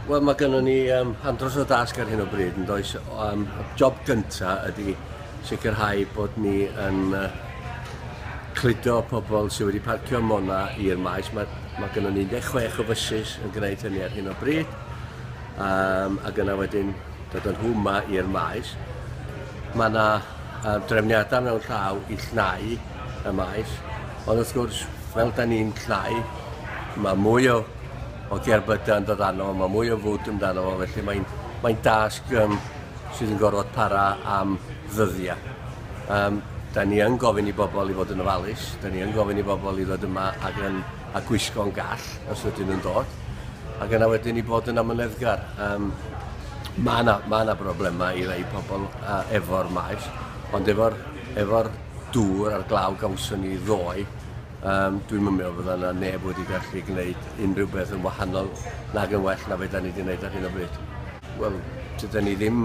Wel, mae gennym ni um, andros o dasg ar hyn o bryd, yn does. Um, job gyntaf ydy sicrhau bod ni yn uh, cludo pobl sydd wedi parcio mona i'r maes. Mae, mae gennym ni 16 o fysus yn gwneud hynny ar hyn o bryd. Um, ac yna wedyn dod â nhw yma i'r maes. Mae yna uh, drefniadau mewn llaw i llnau y maes, ond wrth gwrs, fel da ni'n llnau, mae mwy o, o gerbydau yn dod arno, mae mwy o fwd amdano fo, felly mae'n mae dasg um, sydd yn gorfod para am ddyddiau. Um, da ni yn gofyn i bobl i fod yn ofalus, da ni yn gofyn i bobl i ddod yma ac yn a gwisgo'n gall os ydyn nhw'n dod, ac yna wedyn i bod yn amyneddgar. Um, mae yna ma broblemau i rei pobl uh, efo'r maes, ond efo'r efo dŵr a'r glaw gawson ni ddoe, um, dwi'n mynd meddwl fydda yna neb wedi gallu gwneud unrhyw beth yn wahanol nag yn well na fe da ni wedi gwneud ar hyn o bryd. Wel, dyda ni ddim,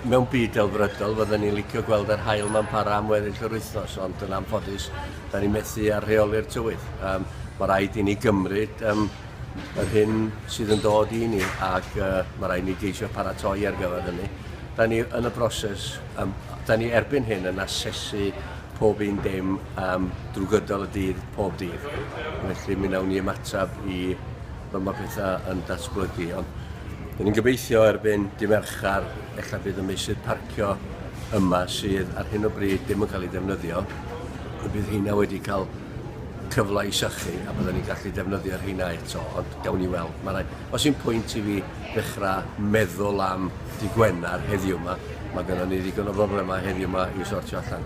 mewn byd delfrydol, fydda ni'n licio gweld yr hael ma'n para am weddill yr wythnos, ond yn anffodus, Dan ni methu â rheoli'r tywydd. Um, mae rhaid i ni gymryd um, yr hyn sydd yn dod i ni ac uh, mae rhaid i ni geisio paratoi ar gyfer hynny. Da ni yn y broses, um, da ni erbyn hyn yn asesu pob un dim um, drwy gydol y dydd, pob dydd. Felly mi wnawn ni ymateb i fy mae pethau yn datblygu. Ond dyn ni'n gobeithio erbyn dim erchar Ella bydd y meysydd parcio yma sydd ar hyn o bryd ddim yn cael ei defnyddio, y bydd heina wedi cael cyfle i sychu a byddwn ni'n gallu defnyddio rheina eto, ond gawn ni weld. Mae rhaid, os i'n pwynt i fi ddechrau meddwl am dy Gwener heddiw yma, mae gennym ni ddigon o broblemau heddiw yma i'w sortio allan.